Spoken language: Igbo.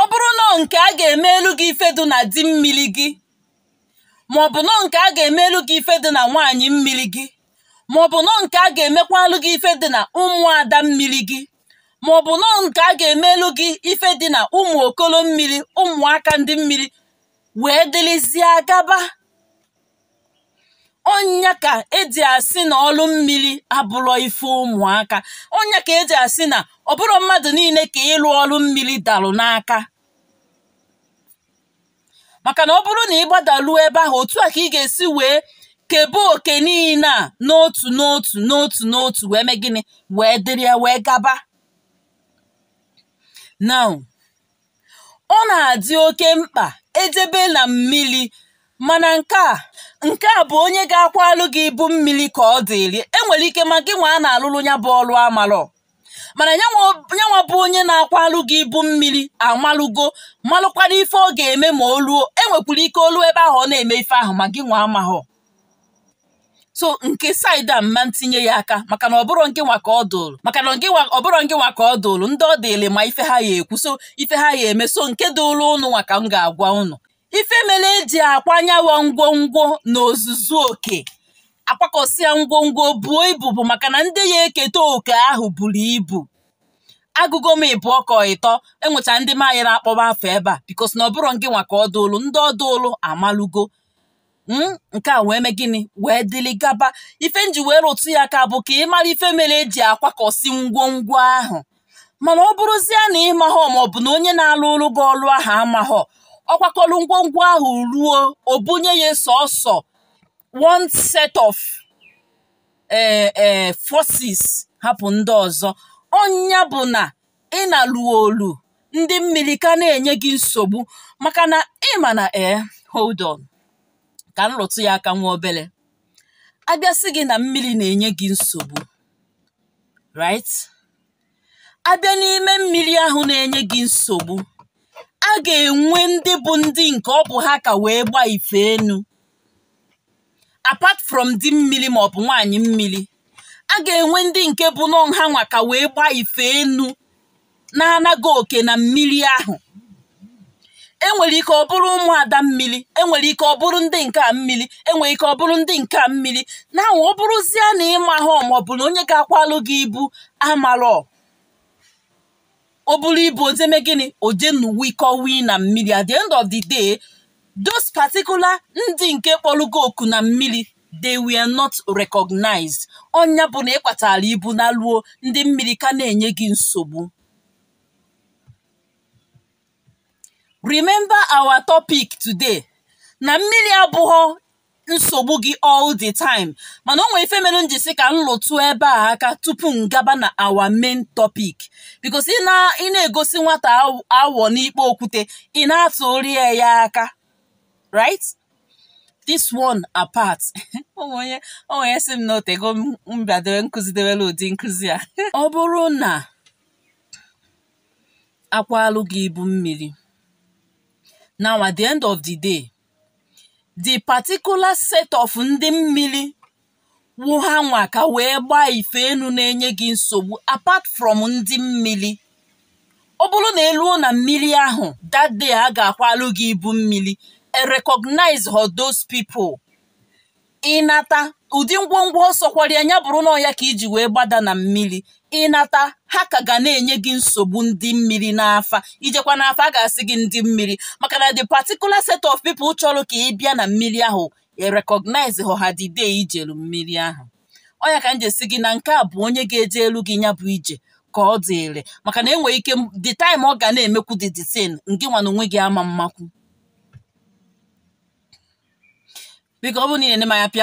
ọ bụrụ na nke a ga-emelu gị ife dị na di mmiri gị ma ọ bụ nọ nke a ga-emelu gị ife dị na nwaanyị mmiri gị ma ọ bụ nọ nke a ga-emekwalụ gị ife dị na ụmụada mmiri gị ma ọ bụ nọ nke a ga-emelu gị ife dị na ụmụ okolo mmiri ụmụaka ndị mmiri wee dịrịzie gaba ọ nya ka eji asị na ọlụ mmiri abụrọ ife ụmụaka ọ nya ka eji asị na ọ bụrọ mmadụ niile ka ịlụ ọlụ mmiri dalụ n'aka maka na ọ bụrụ na ị gbadaluo ebe ahụ otu a ka ị ga-esi wee kebe oke niile a n'otu n'otu n'otu n'otu wee mee gịnị wee dịrị ya wee gaba now ọ na-adị oke mkpa ejebe na mmiri mana nke a nke a bụ onye ga-akwalụ gị ibu mmiri ka ọ dịrị enwere ike ma gị nwa a na-alụrụ ya bụ ọrụ amalọ mana nyanwa bụ onye na-akwalụ gị ibu mmiri amalụgo malụkwara ife ọ ga-eme ma o ruo enwekwara ike o luo ebe ahụ ọ na-eme ife ahụ ma gị nwa amahọ so nke side a mma ntinye ya aka maka na ọ bụrọ ngị nwa ka ọ dụrụ maka na ọ bụrọ ngị nwa ka ọ dụrụ ndị ọ dịrị ma ife ha ya ekwu so ife ha ya eme so nke dụrụ ụnụ nwa ka m ga-agwa ụnụ ife mere eji akwa nyawa ngwongwo n'ozuzu oke akwakọsịa ngwongwo buo ibu bụ maka na ndị ya eketa oke ahụ buru ibu agụgo m ịbụọ ka ịtọ enwecha ndị m ayịrọ akpọba afa ebe a because na ọ bụrọ ngị nwa ka ọ dụrụ ndị ọ dụrụ amalụgo hmm? nke a wee mee gịnị wee dịlị gaba ife nji wee rụtụ ya aka bụ ka ị mara ife mere eji akwakọsị ngwongwo ahụ mana ọ bụrụzie na ị mahọ maọbụ na onye na-alụlụ gị ọlụ ahụ amahọ ọ kwakọrọ ngwongwo ahụ ruo o bunye ya sọsọ one set of ee eh, eh, forces hapụ ndị ọzọ ọ nya bụ na ị na-alụ ọlụ ndị mmiri ka na-enye gị nsogbu maka na ịma na ee eh, hold on ka m rụtụ ya aka nwa obere a bịa sị gị na mmiri na-enye gị nsogbu right a bịa n'ime mmiri ahụ na-enye gị nsogbu a ga-enwe ndị bụ ndị nke ọ bụ ha ka wee gbaa ife enu apart from di mmiri ma ọ bụ nwaanyị mmiri a ga-enwe ndị nke bụ nọ nha nwa ka wee gbaa ife enu na-ana gị oke na mmiri ahụ enwere ike ọ bụrụ ụmụada mmiri enwere ike ọ bụrụ ndị nke a mmiri enwere ike ọ bụrụ ndị nke a mmiri now ọ bụrụzie na ị mahọ maọbụ na onye ga-akwalụ gị ibu amarọ o buru ibu o je me gịnị oje n'uwikọ wii na mmiri at the end of the day those particular ndị nke kpọrọ gị oku na mmiri they were not recognized ọ nya bụ na ị kwatara ibu naluo ndị mmiri ka na-enye gị nsogbu remember our topic today na mmiri abụghọ nsogbu gị all the time mana o nwere ife mere m ji sị ka m lụtụ ebe a aka tupu m gaba na our main topic because ị na-egosi nwata agwọ n'ikpe okwute ị na-atụrụ ya ya aka right this one apart o nwe onye sị m na o tego m bịadebe m kụzidebere ụdị nkụzi a ọ bụrụ na a kwalụ gị ibu mmiri now at the end of the day the particular set of ndị mmiri wụ ha nwa ka wee gbaa ife enu na-enye gị nsogbu apart from ndị mmiri ọ bụrụ na e luo na mmiri ahụ that day a ga-akwalụ gị ibu mmiri e recognize họ those people ị nata ụdị ngwongwo ọ sọkwara ya bụrụ na ọ ya ka i ji wee gbada na mmiri ị nata ha ka ga na-enye gị nsogbu ndị mmiri n'afa i jekwa n'afa a ga-asị gị ndị mmiri maka na the particular set of people chọrọ ka ị bịa na mmiri ahụ e recognize họ ha the day i jelu mmiri ahụ ọ ya ka m ji asị gị na nke a bụ onye ga-ejelu gị ya bụ ije ka ọ dịrị maka na e nwere ike the time ọ ga na-emekwu the thing ngị nwa na onwe gị ama mmakwu biko ọ bụrụ na ị na-ene m anya pịara